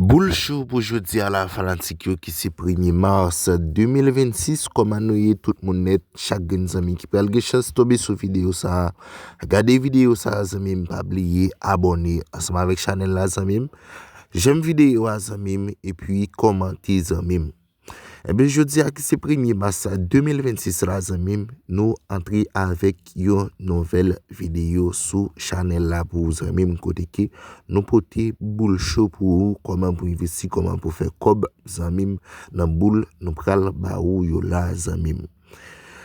Boul chou pou jodi a la fanatik yo ki se premye mars 2026 kòman nou ye tout moun nèt chak grenn zanmi ki pral gen chans tonbe sou videyo sa gade videyo sa zanmim pa bliye abòne ansanm avèk chanèl la zanmim janm videyo a zanmim epi kòmante zanmim. Ebyen jodi a ki se premye mas 2026 la zanmim nou antre avèk yon nouvèl videyo sou chanèl la pou ou zanmim kote ke nou pote boul cho pou ou kòman pou envesti kòman pou fè kòb zanmim nan boul nou pral ba ou yo la zanmim.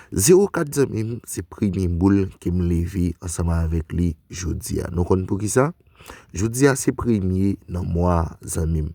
Zewo kat zanmim se premye boul ke m leve ansanm avèk li jodi a nou konn poukisa jodi a se premye nan mwa zanmim.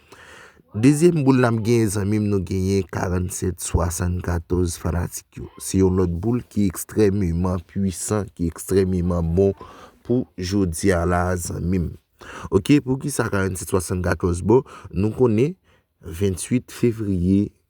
Dezyèm boul nap genyen zanmim nou genyen 47 74 fanatik yo. Se yon lòt boul ki ekstrememan pwisan, ki ekstrememan bon pou jodi a la zanmim. Ok, pou ki sa 47 74 bon, nou konnen 28 fevriye.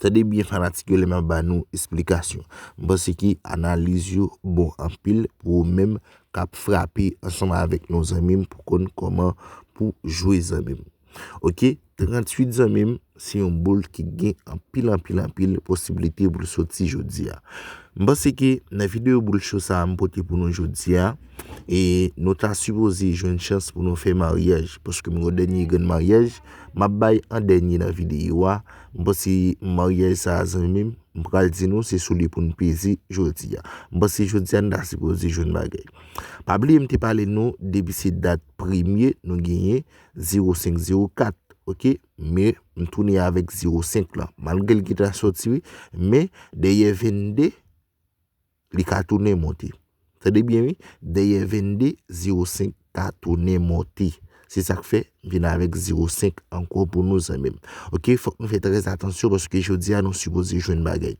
Tande byen fanatik yo lè map ba nou esplikasyon. M panse ke analiz yo bon anpil pou ou menm kap frape ansanm avèk nou zanmi m pou konn kòman pou jwe zanmi m. Ok 38 zanmi m se yon boul ki gen anpil anpil anpil posibilite pou l soti jodi a. M panse ke nan videyo boul cho sa m pote pou nou jodi a e nou ta sipoze jwenn chans pou nou fè maryaj paske m gen yon dènye grenn maryaj. Map bay an dènye nan videyo a, m panse maryaj sa zanmi m, m pral di nou se sou li pou n peze jodi a. M panse jodi a n ta sipoze jwenn bagay. Pa bliye m te pale nou depi se dat premye nou genyen 05 04 ok men m tounen avèk 05 lan malgre l gentan soti wi men dèyè 22 Li ka tounen monte. Tande byen wi, dèyè 22, 0, 5 ka tounen monte. Se sa k fè m vin avèk 0, 5 ankò pou nou zanmi m. Ok, fòk nou fè trè atansyon paske jodi a nou sipoze jwenn bagay.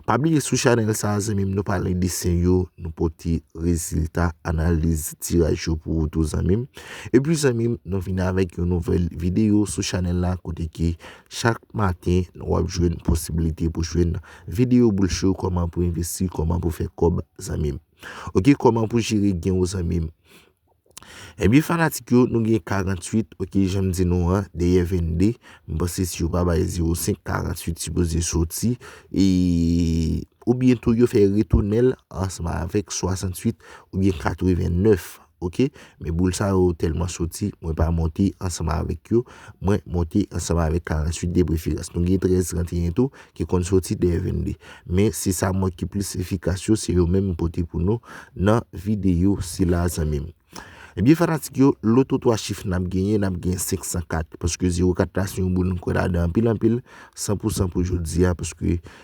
Pa bliye sou chanèl sa a zanmi m nou pale desen yo, nou pote rezilta analiz tiraj yo pou ou tou zanmi m. Epi zanmi m, nou vin avèk yon nouvèl videyo sou chanèl la kote ki chak maten nou ap jwenn posibilite pou jwenn Video boul show koman pou investi koman pou fè kob zanmim ok koman pou jere gen ou zanmim Ebyen fanatik yo nou gen 48 ok janm di nou an dèyè 22 m panse si yo pa bay 05 48 sipoze soti e oubyen tou yo fè retounenl ansanm avèk 68 oubyen 89. ok men boul sa yo tèlman soti mwen pa monte ansanm avèk yo mwen monte ansanm avèk 48 depreferans nou gen 13 31 tou ki konn soti dèyè 22 men se sa mwen ki plis efikas yo se yo menm mwen pote pou nou nan videyo sila zanmi m ebyen fanatik yo loto 3 chif n ap genyen n ap gen 504 paske 04 la se yon boul mwen kwè ladan anpil anpil 100 pou 100 pou jodi a paske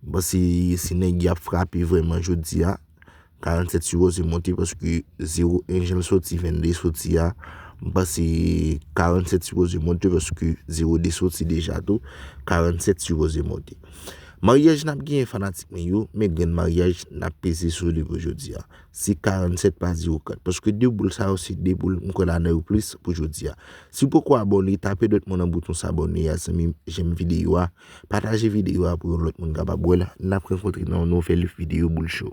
Bon si si nèg yap frape vrèman jodi a 47 si Rose monte paske 0 1 janl soti 22 soti a m panse 47 si Rose monte paske 0 2 soti deja tou 47 si Rose monte Maryaj nap genyen fanatik mwen yo men grenn maryaj nap peze sou li pou jodi a se 47 pa 0 4 paske 2 boul sa yo se 2 boul m kwè nan yo plis pou jodi a si w poko abòne tape dwèt mwen nan bouton sabòne a zanmi m janm videyo a Pataje video a pou yon lòt moun kapab wèl nap rankontre nan yon nouvèl video boul show.